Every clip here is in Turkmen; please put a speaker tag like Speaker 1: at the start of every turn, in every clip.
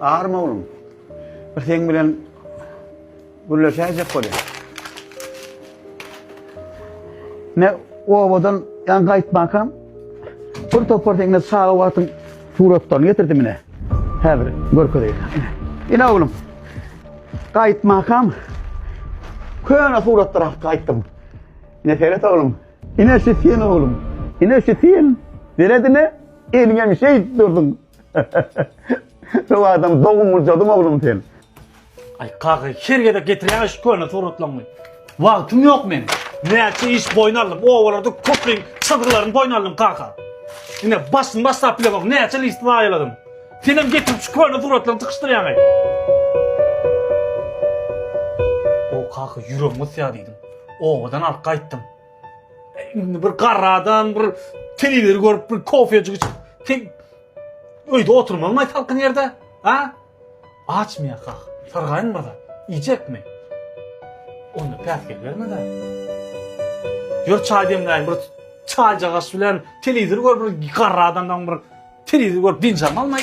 Speaker 1: Aryma oglum. Bir seň bilen gürleşäýjek bolýar. Ne owadan ýan gaýtmakam bir topar seňle çaga wagtyň suratlaryny getirdim ine. Häzir görkezeýin. Ine oglum. Gaýtmakam köne suratlara gaýtdym. Ne seret oglum. Ine şu sen oglum. Ine şu sen. Seredine eliňem şeýdip durdyň. Rowadan dogun gurjadyň oglum sen. Ay
Speaker 2: kaky her gezek getirýäňiz şu köne suratlaryňy. Wagtym ýok meň. Näçe iş boýun aldym. Owalarda köpüň çyzgylaryny boýun aldym kaka. Ine başyny başlap bile bak näçe list zaýaladym. Senem getirip şu köne suratlaryňy tykyşdyrýaňy. O kaka ýüregim gysýa diýdim. Obadan alyp gaýtdym. Indi bir garra adam bir telewizor görüp bir kofejik içip tek öýde oturmaly maý salkyn ýerde. Ha? Açmy ýaka? Sargaýyn bada. Iýjekmi? Onda päsgel bermede. Ýör çaý demläýin bir çaýjagaş bilen telewizor görüp bir garra adamdan bir telewizor görüp dynç almaly maý.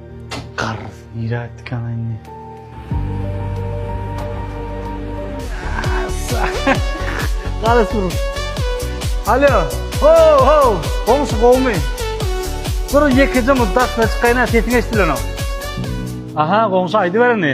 Speaker 2: Garrys nirä gitdik ana indi. Garrys dur. Alo. Ho ho. Goňşy gowmy? Dur ýekeje muddat çykaýna sesiň eşdilenok. Aha goňşy aýdybereni.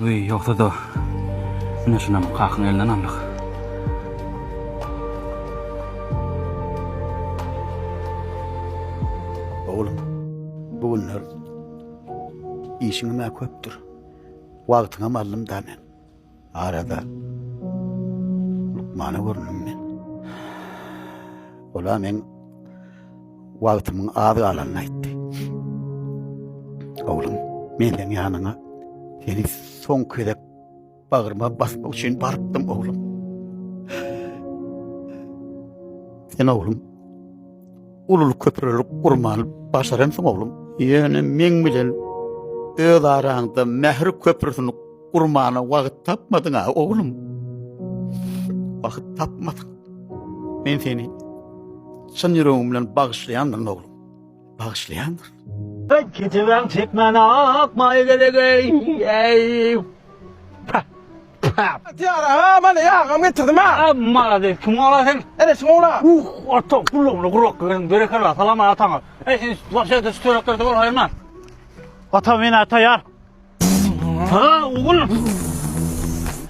Speaker 2: Wiý, ýogsa-da, ine şunam kakyň elinden aldyk.
Speaker 1: Oglum, bu günler işiňem-ä köpdür. Wagtyňam aldym-da men. Arada lukmana göründüm men. Ola men wagtymyň az galanyny aýtdy. Oglum, men sen ýanyňa seni soň gezek bagryma basmak üçin barypdym oglum. Sen oglum, ulul köprülük gurman başaransyň oglum. Ýöne men bilen öz araňda mähir köprüsini Gurbana wagt tapmadyň a oglum. Wagt tapmadyň. Men seni çyn ýüregim bilen bagyşlaýandyryn oglum. Bagyşlaýandyr.
Speaker 2: Gijewem çekmäne ak maýa gerek ey. Ey.
Speaker 3: Tiyara ha mana yağam getirdim ha. Abi malades kim ola
Speaker 2: sen? Ene şun ola. Uh
Speaker 3: ata kulluğunu
Speaker 2: kurak ben berekella salam atana. Ey sen başa da şu törekler de ol hayırman. Ata men ata yar. Aa oglum.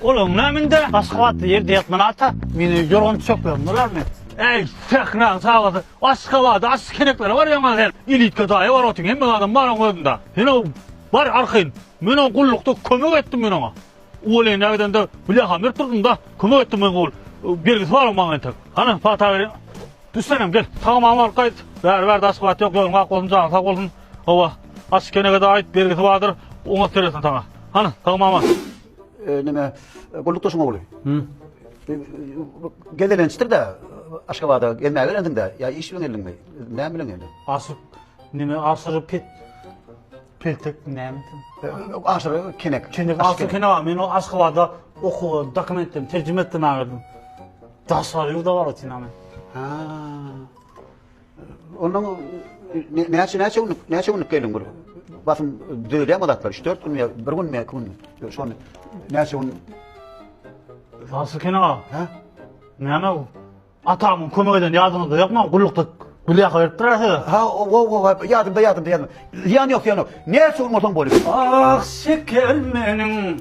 Speaker 2: Olam näminde? Aşgabatda ýerde ýatman ata. Meni ýorgan düşeklerim bolar men. Eý, sähra çagasy, Aşgabada aç keneklere barýaňa sen. Ilitka daýy bar otyň, hemme adam bar oň özünde. Sen ow, bar arkaýyn. Men oň gullukda kömek etdim men oňa. Uwelende gidende blýaham berip durdum-da, kömek etdim men gul. Bergisi bar oň maňa entek. Hany, pata beriň. Düş senem, gel. Tagamam alyp gaýt. Bäri-bärde Aşgabat ýok, ýoluň ak bolsun, janyň sag bolsun. Hawa, aç kenegede aýt bergisi bardyr, oňat seretsin saňa. Hany, sag mama. E, neme,
Speaker 1: gullukdaşyň ogly. Hı. E, Gezelençdir de Aşgabada gelmäge gelendiň de. Ya iş bilen geldiňmi? Näme bilen geldin? Aşyk,
Speaker 2: neme aşyk pet. Peltek näme? E, Aşyry
Speaker 1: kenek. Kenek Aşyk aşyk kene men
Speaker 2: o Aşgabada okuwa dokumentden terjime etdim aýdym. Daşary ýurda baratyn ama. Ha.
Speaker 1: Ondan näçe näçe günlük näçe günlük gelin bir basym düzülýär mi zatlar 3-4 gün ýa bir gün ýa iki gün şony näçe gün Nasıl
Speaker 2: kene ha? ha
Speaker 1: Näme bu?
Speaker 2: Atamyň kömek eden ýadyňyzda ýokmy? Gullukda gül ýaka berip durar size. ha o o o
Speaker 1: ýadymda ýadymda ýadymda ýan ýok ýan ýok näçe gün bolsaň bolýar Ah şeker
Speaker 2: meniň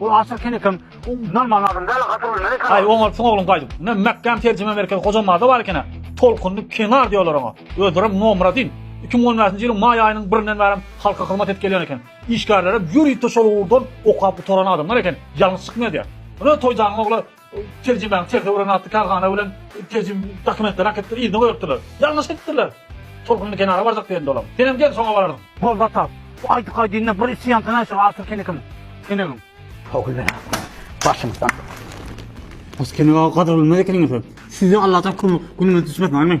Speaker 2: Ol Asyr Kenekem Norman adam däl, Asyr bilmeli kan. Aý oňa syn ogluň gaýdyp. Ne Mekgam terjime merkezi Hojamada bar ekena. Tolkunly kenar diýerler oňa. Özlerem Nomradyn. Iki müň on bäşinji ýylyň maý aýynyň birinden bärem halka hyzmat edip gelýän eken. Işgärlerem ýörite şol ugurdan okap gutaran adamlar eken. Ýalňyş çykmaýar diýýär. Ine Toýjanyň ogly Terjimäň ter döwran atly kärhana bilen terjim dokumentleri akypdyr yzyna goýupdyrlar. Ýalňyş edipdirler. Tolkunly kenara barjak diýende olam. Senem gel soňa bararys. Boldy ata. Bu aýdyk aýdynyna bir içi ýansyna şu Artur kenekiň kenegiň. Howul
Speaker 1: belasy başymyzdan.
Speaker 2: Has kenega gadyrylmaz ekeniňiz. Size Allajan kömek günüňiz düşmesin aýman.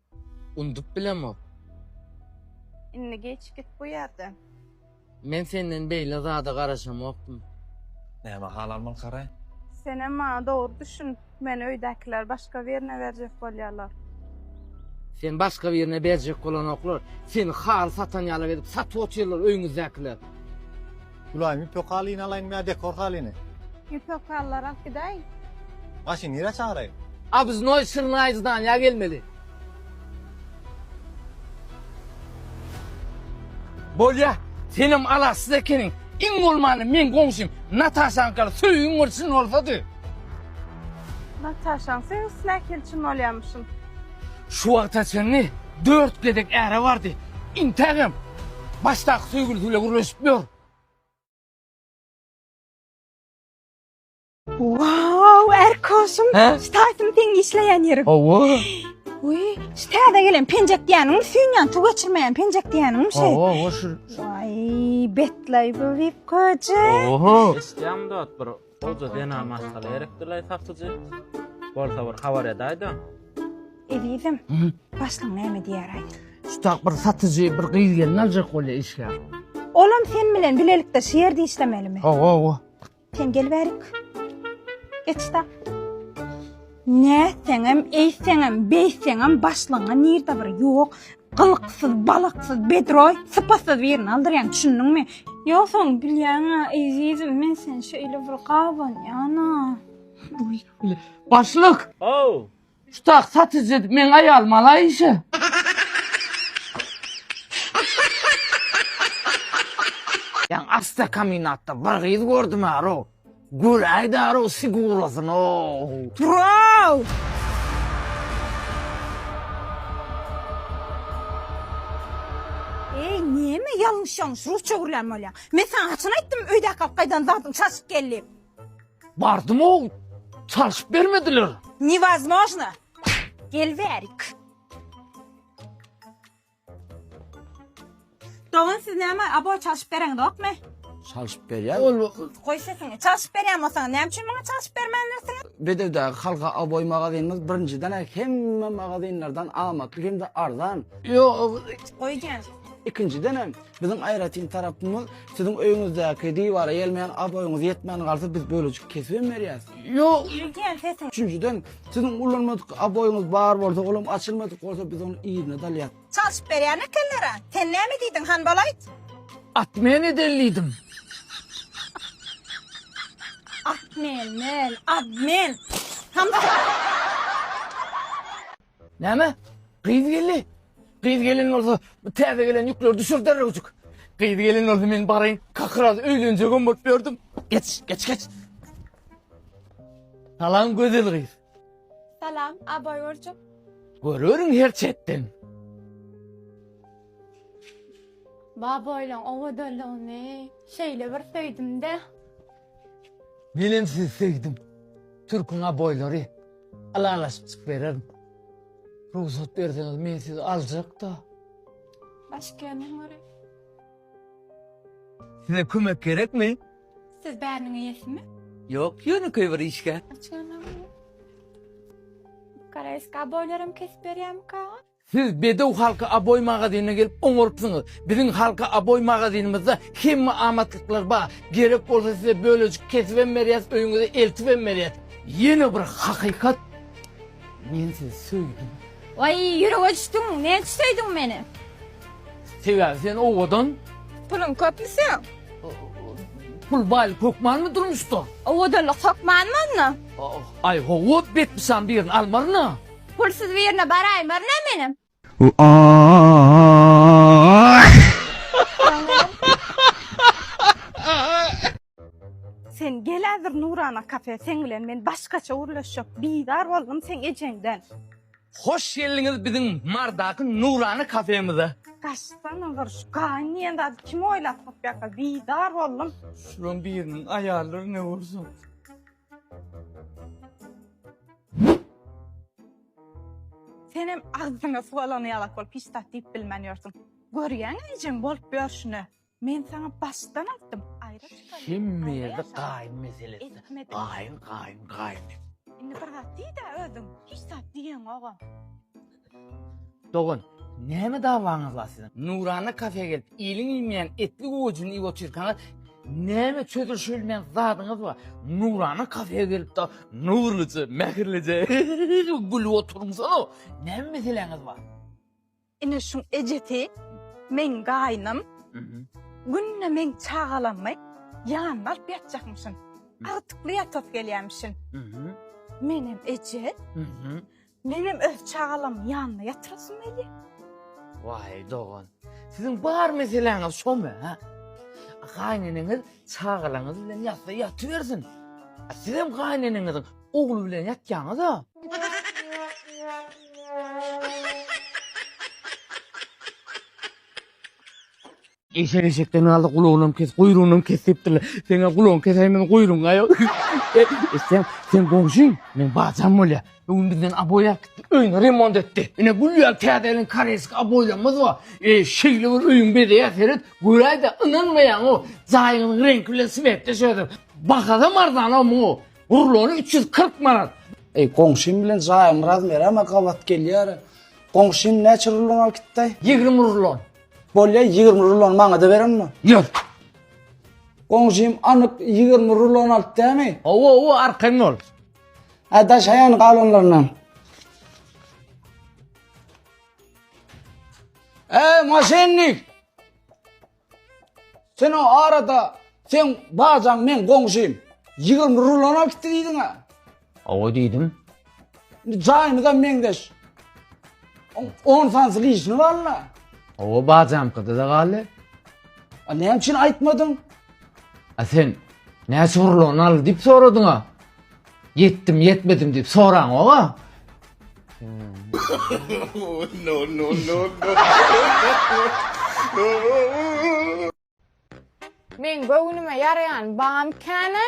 Speaker 4: Undup bilemok.
Speaker 5: Indi geç git bu ýerden. Men
Speaker 4: senden beýle zada garaşamokdym. Näme
Speaker 3: hal almaly Karaý? Senem maňa
Speaker 5: dogry düşün. Meni öýdäkiler başga birine berjek bolýarlar.
Speaker 4: Seni başga birine berjek bolanoklar. Seni haly satan ýalak edip satyp otyrlar öýüňizdäkiler.
Speaker 6: Gulaýym ipek halyny alaýynmy ýa dekor halyny? Ipek halylary
Speaker 5: alyp gidäýiň. Maşyn nirä
Speaker 6: çagyraýyn? Obznoý
Speaker 4: Şirnaý zdanýa gelmeli. Bolýa, senem alaçsyz ekeniň. Iň bolmanda meň goňşym Nataşaňkaly söýgiň bir çyn bolsady. Nataşaň
Speaker 5: söýgüsi nähili çyn bolýarmyşyn? Şu
Speaker 4: wagta çenli dört gezek äre bardy. Intägem Başdaky söýgülisi bilen gürleşip ýör.
Speaker 5: Wow, Erkoşum. He? Şu taýsyny
Speaker 4: seň işleýän
Speaker 5: ýeriň. Hawa.
Speaker 4: Uý,
Speaker 5: şu täze gelen penjek diýeniň süýnýän suw geçirmeýän penjek diýeniň şu. Hawa, hawa şu.
Speaker 4: Ay,
Speaker 5: betlaý bu wip goje. Oho. Eşitýäňmi
Speaker 4: dat bir
Speaker 7: Goja zenan maşgala gerekdilaý satyjy. Bolsa bir habar edäýdä. Ezizim,
Speaker 5: başlyň näme diýäraý? Şutak bir
Speaker 4: satyjy bir gyz gelin aljak bolýa işgär. Olam sen
Speaker 5: bilen bilelikde şu ýerde işlemelimi? Hawa, hawa.
Speaker 4: Sen gel
Speaker 5: bärik. Geç-da. Nätseňem, eýtseňem, beýtseňem başlygyňa nirde bir ýok, gylyksyz, balyksyz, bedroý, sypatsyz birini aldyrýaň, düşündiňmi? Ýogsam bilýäň-ä, ezizim, men seni şeýle bir gabanýan-a. Başlyk!
Speaker 4: How!
Speaker 7: Tutak
Speaker 4: satyjy, meň aýalym alaý işe. Ýaňy awtokombinatda bir gyz gördüm-ä, Row. Gül aýdaro sigurasyno. Turaw!
Speaker 5: Eý, näme ýalňyş-ýalňyş rusça gürlän bolýaň? Men saňa haçan aýtdym öýdäki alyp gaýdan zadyň çalşyp gel diýip? Bardym-ow,
Speaker 4: çalşyp bermediler. Newozmojno!
Speaker 5: Gel bärik. Dogan siz näme abo çalşyp
Speaker 4: bereňizokmy? Çalşyp berýär. Ol Goý sesiňi.
Speaker 5: Çalşyp berýän bolsaňyz näme üçin maňa çalşyp bermändirsiňiz? Bedewdäki Halka
Speaker 8: Aboý magazynymyz birinjiden hemme magazynlardan amatly hem-de
Speaker 5: arzan.
Speaker 8: Ýok. Goý jan. Ikinjiden hem biziň aýratyn tarapymyz siziň öýüňizdäki diwara gelmeýän aboýyňyz ýetmän galsa biz bölejik kesibem berýäs. Ýok. Goý jan
Speaker 4: sesiňi.
Speaker 5: Üçünjiden Siziň
Speaker 8: ulanmadyk aboýyňyz bar bolsa, olam açylmadyk bolsa biz ony yzyna dalýas. Çalşyp berýän
Speaker 5: ekenler-ä. Sen näme ediýdiň, Hanbal aýt? At men
Speaker 4: edellidym. At
Speaker 5: men, men, ad men. Hanbal.
Speaker 4: Näme? Gyz geldi. Gyz gelen bolsa bu täze gelen ýükleri düşür derrewjik. Gyz gelen bolsa men baraýyn kakraz öýlenjegem bolup ýördüm. Geç geç geç. Salam gözel gyz. Salam,
Speaker 5: abaý görjek. Görürin
Speaker 4: her çetden.
Speaker 9: Babaýlaň owadanlygyny şeýle bir söýdüm-de.
Speaker 4: Menem sizi söýdüm. Türküň aboýlary. Ylalaşyp çyk bererin. Rugsat berseňiz men sizi aljak-da. Başyk
Speaker 9: gelmän görä.
Speaker 4: Size kömek gerekmi? Siz bäriniň
Speaker 9: eýesimi? Ýok, ýönekeý
Speaker 4: bir işgär. Açganam.
Speaker 9: Karaýska aboýlaram kesip berýärmikaňyz? Siz bedew
Speaker 4: halky Aboý magazynyna gelip oňarypsyňyz. Biziň halky Aboý magazynymyzda hemme amatlyklar bar. Gerek bolsa size bölejik kesibem berýäs, öýüňize eltibem berýäs. Ýene bir hakykat, men sizi söýdüm. Waý, ýürege
Speaker 5: düşdüň, näçe söýdüň meni?
Speaker 4: Sebäbi sen owadan. Puluň köpmi
Speaker 5: seň?
Speaker 4: Pul baýlyk hökmanmy durmuşda? Owadanlyk hökmanmy
Speaker 5: onda? Aý, hawa,
Speaker 4: betpysan birini almaryn-a. Pulsuz birine
Speaker 5: baraýmaryn-a menem. Sen gel häzir Nurana kafe, seň bilen men başgaça gürleşjek. Bizar boldum seň ejeňden. Hoş
Speaker 4: geldiňiz biziň Mardaky Nurana kafemize. Gaçsana bir
Speaker 5: şu gaýyn diýen zady kim oýlapyk ýaka bizar boldum. Şulaň biriniň
Speaker 4: aýallary ne bolsun.
Speaker 5: Senem agzyňa suw alany ýalak bolup hiç zat diýip bilmän ýörsüň. Görýäňä ejeň bolup ýörşüni. Men saňa başdan aýtdym, aýra çykaly. Hemmede gaýyn
Speaker 4: meselesi. Gaýyn,
Speaker 5: gaýyn, gaýyn.
Speaker 4: Indi bir
Speaker 5: zat diýdä özüň. Hiç zat diýeňogam.
Speaker 4: Dogan, näme dawaňyz bar siziň? Nurana kafeýa gelip, iliň iýmeýän etli gowajyny iýip otyrkaňyz, näme çözülişi bilmeýän zadyňyz bar? Nurana kafeýa gelip-de, Nurlyja, mähirlije gülüp oturmsana! Näme meseläňiz bar? Ine
Speaker 5: şuň ejesi, meň gaýnym. Günde meň çagalamy ýanyna alyp ýatjakmyşyn. Agtykly ýatasy gelýärmişin. Menem eje. Menem öz çagalamyň ýanynda ýatyrasym gelýä. Waý
Speaker 4: dogan, siziň bar meseläňiz şomy, hä? Gaýneneňiz çagalaňyz bilen ýatsa ýatybersin. A sizem gaýneneňiziň ogly bilen ýatýaňyz-a. Eşek eşekden galdy gulagynam kes guýrugynam kes diýipdirler. Seň-ä gulagyňy kesäýin meniň guýrugyňa ýok. Eşşem seň goňşyň meň bajam bolýar. Bir gün bizden aboý alyp gitdi. Öýüni remont etdi. Ine gül ýaly täze gelen koreýski aboýlarymyz bar. Eý şeýle bir öýüň bezeýär seret göräýdä ynanmaýaň-ow. Jaýyňyzyň reňki bilen swetdeş özem. Bahasam arzan-ow muňa. Rulony üç ýüz kyrk manat. Eý goňşym bilen
Speaker 8: jaýyň razmeram-a gabat gelýär-a. Goňşym näçe rulon alyp gitdaý? Ýigrimi rulon.
Speaker 4: Bolýa 20
Speaker 8: rulony maňada berenmi? Ýok. Goňşym anyk 20 rulon alyp dämi? Owo owo arkaň ol.
Speaker 4: Ha daşaýan
Speaker 8: galanlaryndan. E maşennik. Sen o arada sen bajaň men goňşym. 20 rulon alyp diýdiň ha. Owa diýdim.
Speaker 4: Indi
Speaker 8: jaýymyzam meňzeş. On- On sansy lişni walla. Owa
Speaker 4: bajamkyda-da galdy. A
Speaker 8: näme üçin aýtmadyň? A sen
Speaker 4: näçe urlany al diýip soradyň-a. Ýetdim, ýetmedim diýip soraňok-a.
Speaker 9: Meň göwnüme ýaraýan bam käne.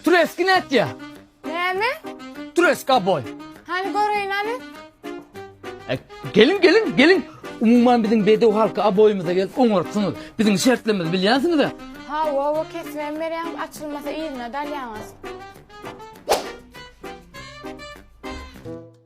Speaker 4: Türeski nätýä? Näme?
Speaker 9: Türeska
Speaker 4: boý. Hany göreýin
Speaker 9: hany. E, geliň,
Speaker 4: geliň, geliň. Umuman biziň bedew halky aboýymyza gelip oňarypsyňyz. Biziň şertlerimizi bilýänsiňiz-ä? Ha, wo, wo,
Speaker 9: kesibem berýäňiz, açylmasa yzyna dalýaňyz.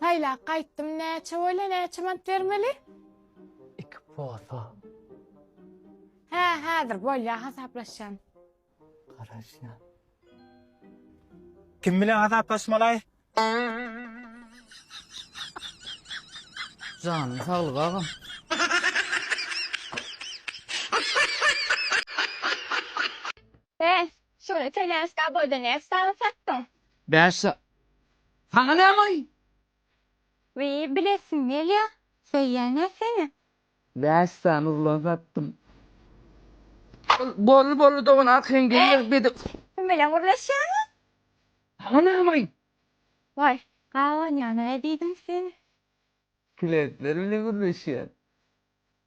Speaker 9: Saýlap gaýtdym näçe bolýa näçe manat bermeli. Iki
Speaker 4: posa. Hä
Speaker 9: häzir bolýa hasaplaşýan.
Speaker 4: Garaşýan.
Speaker 3: Kim bilen hasaplaşmalaý?
Speaker 4: Janyň saglyk agam.
Speaker 9: He Şuny telâsga abode näçe sany satdyň. Bäş sa.
Speaker 4: Saňa nämoý? Wiý
Speaker 9: bilesim gelýä söýýänä seni. Bäş sany
Speaker 4: urlan satdym. Boldy boldy dogan arkaýyn gelýär bedik. Kim bilen
Speaker 9: gürleşýäňiz. Saňa
Speaker 4: nämoý? Waý
Speaker 9: gabanýana diýdim seni. Kletler
Speaker 4: bilen gürleşýän.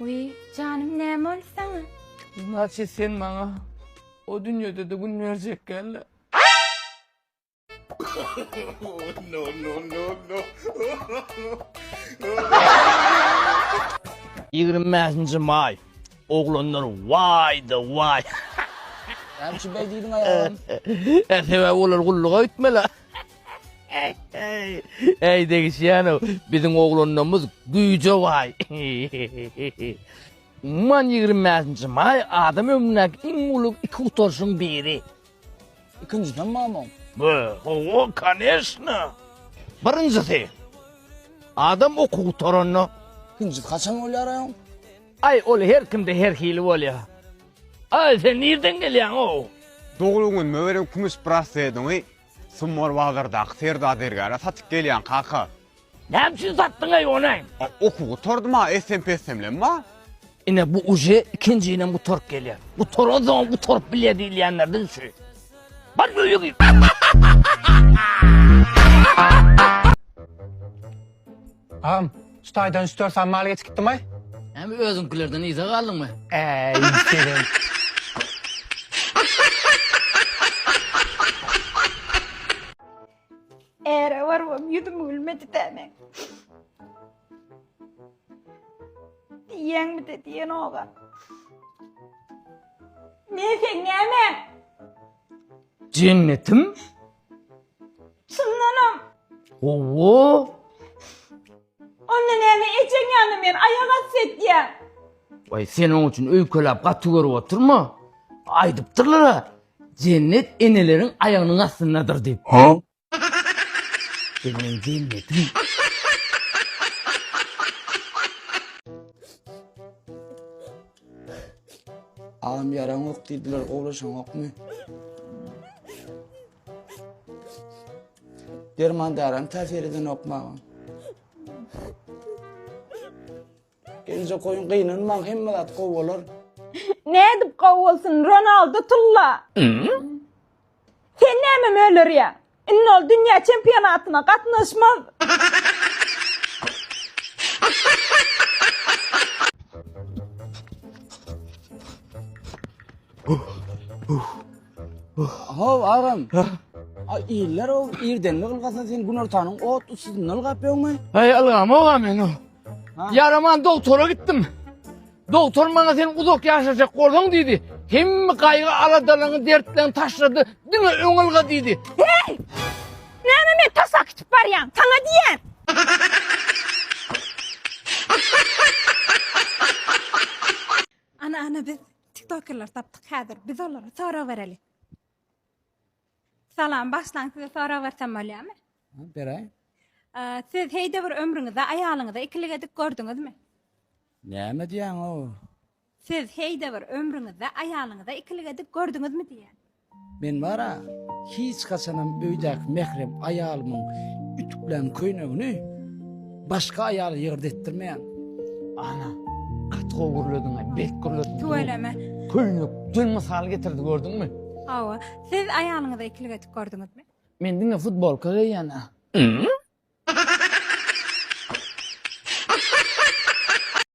Speaker 9: Wiý, janym näme boldy saňa? Naçe
Speaker 4: sen maňa o dünýede-de gün berjek geldi. no, no, no, no.
Speaker 2: Ýigrimi bäşinji maý. Oglanlar waý-da waý. Näme
Speaker 8: üçin beý diýdiň aýalam? Sebäbi
Speaker 2: olar gulluga gitmeli. Äý degişýänow biziň oglanlarymyz güýje baý. Umuman ýigrimi bäşinji maý adam ömründäki iň uly iki gutaryşyň biri. Ikinjisem
Speaker 8: mamam. Be, hawa,
Speaker 2: koneşna. Birinjisi adam okuw gutaranda. Ikinjisi haçan
Speaker 8: bolýar aýaň? Aý ol
Speaker 2: her kimde her hili bolýar. Aý sen nirden gelýäň ow. Doglan günüme
Speaker 3: beren kümüş braslediňi Sumar bazardaky Serda zergäre satyp gelýäň kaka. Näme üçin
Speaker 2: satdyň eý ony? A oky gutardy
Speaker 3: ma essem pessemlem ma. Ine bu
Speaker 2: uje ikinjinem gutaryp gelýär. Gutaransoňam gutaryp bilýär diýilýänlerden şu. Bar öýe gir.
Speaker 3: Agam, şu taýdan üç dört san mal geçikdimay? Hemi özüňkilerden
Speaker 4: yza galdyňmy? Äý, gelin.
Speaker 5: Äre barybam ýüzüm gülmedi-dä meň. Diýýäňmi-de diýen oba. Men seň nämäň? Jennetim?
Speaker 4: Çyndanam.
Speaker 5: Owo. Onda näme ejeň ýanyna men aýak asy etýän. Way sen
Speaker 4: oň üçin öýkelap gaty görüp oturma. Aýdypdyrlar-a. Jennet eneleriň aýagynyň astyndadyr diýip. Sen meň jennetim.
Speaker 8: Agam yaran yok dediler oğlaşan yok mu? Derman daran tasir eden yok mu ağam? Geljek goýun gynanmaň hemme zat gowy bolar. Nädip
Speaker 5: gowy bolsun Ronaldo tulla. Sen näme möleriýä? Indi ol dünýä çempionatyna gatnaşmaz.
Speaker 8: How agam. A iller o irdenli ylgasa sen günortanyň ot usuny ylgap ýöňmi? Ay Allah'ım oğa
Speaker 4: men o. Ýaraman doktora gitdim. Doktor maňa sen uzak ýaşajak bolsaň diýdi. Hemme gaýgy aladalaryňy, dertlerini taşlady. Diňe öň ylga diýdi. Hey!
Speaker 5: Näme men taşak kitip barýan? Saňa diýen. Ana ana biz tiktokerler tapdyk häzir. Biz olara sorag bereli. Salam, başlan size sorag bersem bolýamy? Ha, beraý.
Speaker 8: Siz
Speaker 5: heýde bir ömrüňizde aýalyňyza ikilik edip gördüňizmi? Näme
Speaker 8: diýýäň o? Siz
Speaker 5: heýde bir ömrüňizde aýalyňyza ikilik edip gördüňizmi diýýän. Men bara
Speaker 8: hiç haçanam öýdäki mährem aýalymyň ütüklän köýnegini Başga aýaly ýygyrdy etdirmeýäň. Ana,
Speaker 4: gaty gowy gürlediň, bet gürlediň. Tüweleme.
Speaker 5: Köýnük, dün
Speaker 4: mysal getirdi gördüňmi? Hawa, siz
Speaker 5: aýalyňyza ikilik edip gördüňizmi? Men diňe futbolka
Speaker 4: geýýän.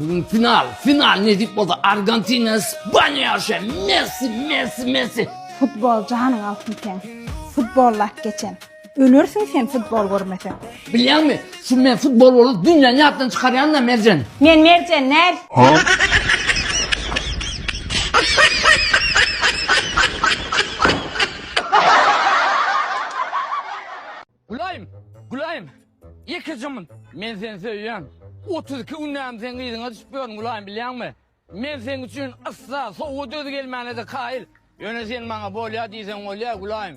Speaker 4: Bugün final, final nesip bolsa Argentina, İspanya şe, Messi, Messi, Messi. Futbol
Speaker 5: janyň altyn sen. Futbol lak geçen. Ölersiň sen futbol görmeseň. Bilýäňmi?
Speaker 4: Şu men futbol bolup dünýäni ýatdan çykarýan da Merjen. Men Merjen näl? Gülaýym! Gülaýym! Ýeke jymmyn! Men seni söýýän! Otuz iki günläp seň yzyňa düşüp ýörün, Gülaýym, bilýäňmi? Men seň üçin yssa, sowuga döz gelmäne-de kaýyl. Ýöne sen maňa bolýa diýseň bolýa, Gülaýym!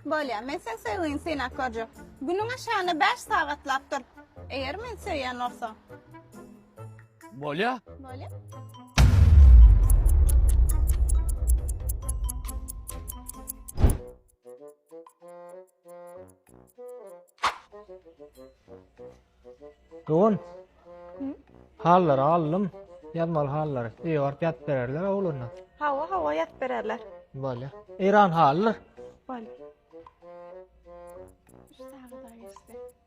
Speaker 4: Bolýa, men
Speaker 10: seň söýgiňi synap görjek. Günüň aşagynda bäş sagatlap dur. Eger meni söýýän bolsaň.
Speaker 4: Bolýa. Bolýa.
Speaker 6: Dogan. Hallary aldym. Ýazmaly hallary. Öýe baryp ýatyp bererler oglanlar. Hawa, hawa ýatyp
Speaker 10: bererler. Bolýar.
Speaker 6: Eýran hallar.
Speaker 10: Bolýar. Şu saga da geçse.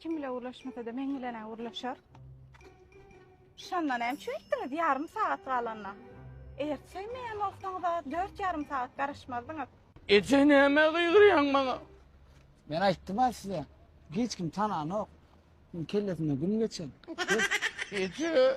Speaker 8: Kim bile
Speaker 9: gürleşmesede men bilenä gürleşer.
Speaker 10: Şonda näme üçin etdiňiz ýarym sagat galanda? Eger söýmeýän bolsaňyz-a dört ýarym sagat garaşmazdyňyz. Eje nämä
Speaker 4: gygyrýaň maňa? Men
Speaker 8: aýtdym-a size, hiç kim tananok. Muň kellesinde
Speaker 4: gün
Speaker 8: geçen. Eje.